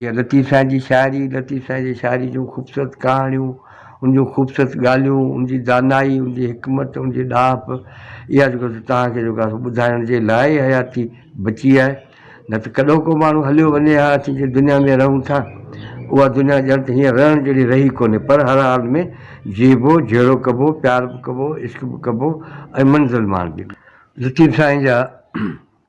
جيئن لطيف سائين جي شاعري، لطيف سائين جي شاعري جون خوبصورت ڪهاڻيون، ان جون خوبصورت ڳالهيون، ان جي دانائي، ان جي حڪمت، ان جي ڏاهپ، اها جيڪو سو توهان کي جيڪو سو ٻڌائڻ جي لاء ئي حياتي بچي آهي، نه ته ڪڏهو ڪو ماڻهو هليو وڃي ها، اسين جنهن دنيا ۾ رهون ٿا، اها دنيا ڄڻ ته هينئر رهڻ جهڙي رهي ڪونهي، پر هر حال ۾ جيئبو، جهيڙو ڪبو، پيار به ڪبو، عشق به ڪبو ۽ منزل ماڻبي. لطيف سائين جا.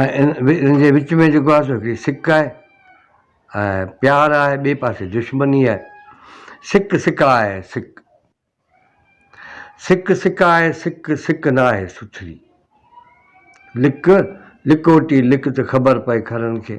۽ ان جي وچ ۾ جيڪو آهي سو هڪڙي سڪ آهي ۽ پيار آهي ٻئي پاسي دشمني آهي سڪ سڪ آهي سڪ سڪ سڪ آهي سڪ سڪ نه آهي سٿري لڪ لڪوٽي لڪ ته خبر پئي کرن کي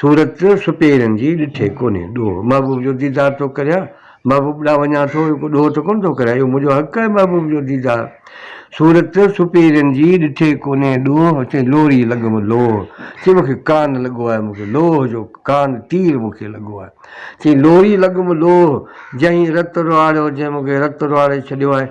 صورت سپيرن جي ڏٺي ڪونهي ڏوهه محبوب جو ديدار ٿو ڪريان محبوب ڏانهن وڃان ٿو اهو ڪو ڏوهه ته ڪونه ٿو ڪريان اهو منهنجو حق آهي محبوب جو ديدار صورت سپيرن جي ڏٺي ڪونهي ڏوهه چئي لوري لڳم لوهه چئي مون کي ڪان لڳو آهي مون کي لوهه جو ڪان تير مون کي لڳو آهي چئي لوري لڳم لوهه جنهين رت روئاڙيو جنهين مون کي رت روئاڙي ڇڏيو آهي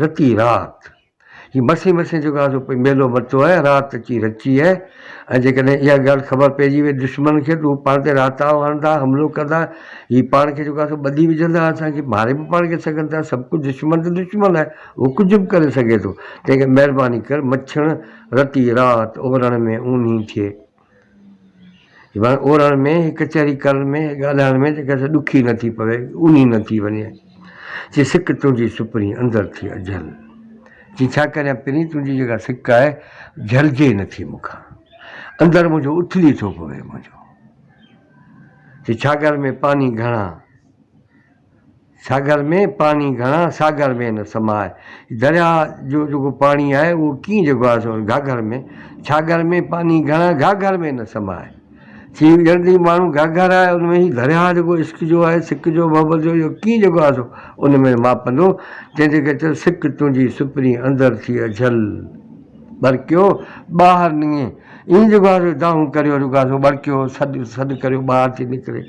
رتي رات جي مسي مسي جيڪو آسو پئي ميلو متو اهي رات اچي رچي اهي ۽ جيڪڏهن اها ڳالهه خبر پئجي وئي دشمن کي ته هو پاڻ تي راتاو هڻندا حملو ڪندا هي پاڻ کي جيڪو آسو ٻڌي وجهندا اسان کي ماري به پاڻ کي سگهن ٿا سڀ ڪجهه دشمن ته دشمن آهي هو ڪجهه به ڪري سگهي ٿو تنهن ڪري مهرباني ڪر مڇڻ رتي رات اورڻ ۾ اونهي ٿئي. ورنه اورڙ ۾ هي ڪچهري ڪرڻ ۾ ڳالهائڻ ۾ جيڪا سا ڏکي نه ٿي پوي، اونهي نه ٿي وڃي. چي سڪ تنهنجي سپرين اندر ٿي اجهل. چي ڇا ڪريان پرين تنهنجي جيڪا سڪ آهي، جهلجي نه ٿي مون کان. اندر منهنجو اٿلي ٿو پوي منهنجو. چي ڇاڳر ۾ پاني گهڻا، ساگر ۾ پاڻي گهڻا ساگر ۾ نه سماء. درياء جو جيڪو پاڻي آهي اهو ڪيئن جيڪو آهي سو گهاگهر ۾، ڇاگهر ۾ پاڻي گهڻا گهاگهر ۾ نه سماء. چي ڄڻ ته هي ماڻهو گهاگهر آهي ان ۾ هي درياء جيڪو عشق جو آهي سڪ جو محبت جو اهو ڪيئن جيڪو آهي سو ان ۾ ماپندو تنهن تي کي چيو سڪ تنهنجي سپرين اندر ٿي اجهل. ٻرڪيو ٻاهر نيئي اين جوڳارو دانهون ڪريو رڳازو ٻرڪيو سڏ سڏ ڪريو ٻاهر ٿي نڪري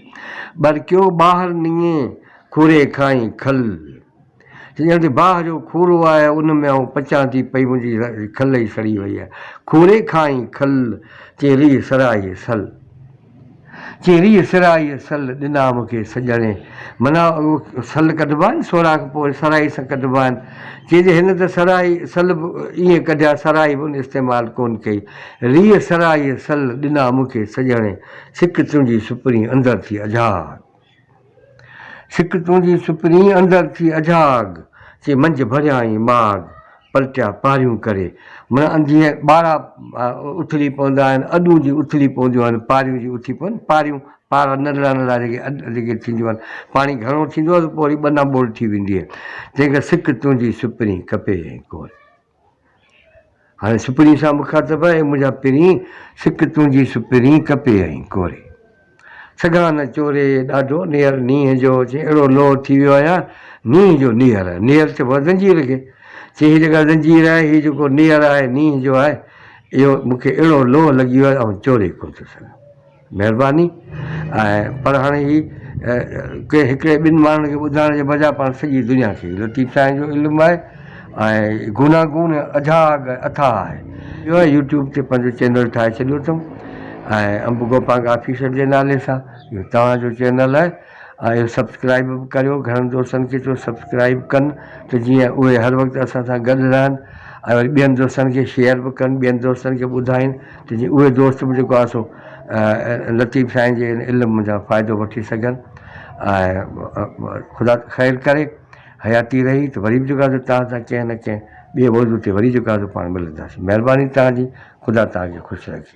ٻرڪيو ٻاهر نيئي کوري کائي کل چي ڄڻ ته باهه جو کورو آهي ان ۾ آئون پچان ٿي پئي منهنجي کل ئي سڙي وئي آهي کوري کائي کل چي ريء سرائي سل. چيري سرائي سل ڏنا مون کي سڄڻي. معنيٰ اهو سل ڪڍبا آهن سوراخ پوء سرائي سان ڪڍبا آهن. چيجي هن ته سرائي سل به ائين ڪڍيا سرائي به ان استعمال ڪونه ڪئي. ريء سرائي سل ڏنا مون کي سڄڻي. سڪ تنهنجي سپرين اندر ٿي اجهار. سڪ تنهنجي سپرين اندر ٿي اجهاڳ، چي منجهه ڀريائين ماڳ، پلٽيا پاريون ڪري. معنيٰ انڌيء ٻارا اٿلي پوندا آهن، اڏون جي اٿلي پونديون آهن، پاريون جي اٿي پون، پاريون پارا ننڍڙا ننڍڙا جيڪي اڏ جيڪي ٿينديون آهن، پاڻي گهڻو ٿيندو آهي ته پوء وري ٻنا ٻول ٿي ويندي آهي. تنهنکري سڪ تنهنجي سپرين ڪپي ۽ ڪوري. هاڻي سپرين سان مخاطب آهي، منهنجا پرين سڪ تنهنجي سپرين ڪپي ۽ ڪوري. سگهان نه چوري ڏاڍو نيهر نينهن جو، چي اهڙو لوهه ٿي ويو آهيان نينهن جو نيهر، نيهر چئبو آهي زنجير کي، چي هي جيڪا زنجير آهي هي جيڪو نيهر آهي نينهن جو آهي اهو مون کي اهڙو لوهه لڳي ويو آهي آئون چوري ڪونه ٿو سگهان. مھرباني ۽ پر ھاڻي ھي ڪنھن ھڪڙي ٻن ماڻھن کي ٻڌائڻ جي بجاء پاڻ سڄي دنيا کي لطيف سائين جو علم آھي ۽ گوناگون اجھاگ ۽ اٿاھ آھي اھو يوٽيوب تي پنھنجو چينل ٺاھي ڇڏيو اٿم ۽ انب گوپانگ آفيشل جي نالي سان اھو توھان جو چينل آھي ۽ سبسڪرائيب به ڪريو گهڻن دوستن کي چئو سبسڪرائيب ڪن ته جيئن اهي هر وقت اسان سان گڏ رهن ۽ وري ٻين دوستن کي شيئر به ڪن ٻين دوستن کي ٻڌائين ته جيئن اهي دوست به جيڪو آسو لطيف سائين جي ان علم جا فائدو وٺي سگهن ۽ خدا خير ڪري حياتي رهي ته وري به جيڪو آسو توهان سان ڪنهن نه ڪنهن ٻي موضوع تي وري جيڪو آسو پاڻ ملنداسين مهرباني توهان جي خدا توهان کي خوش رکي.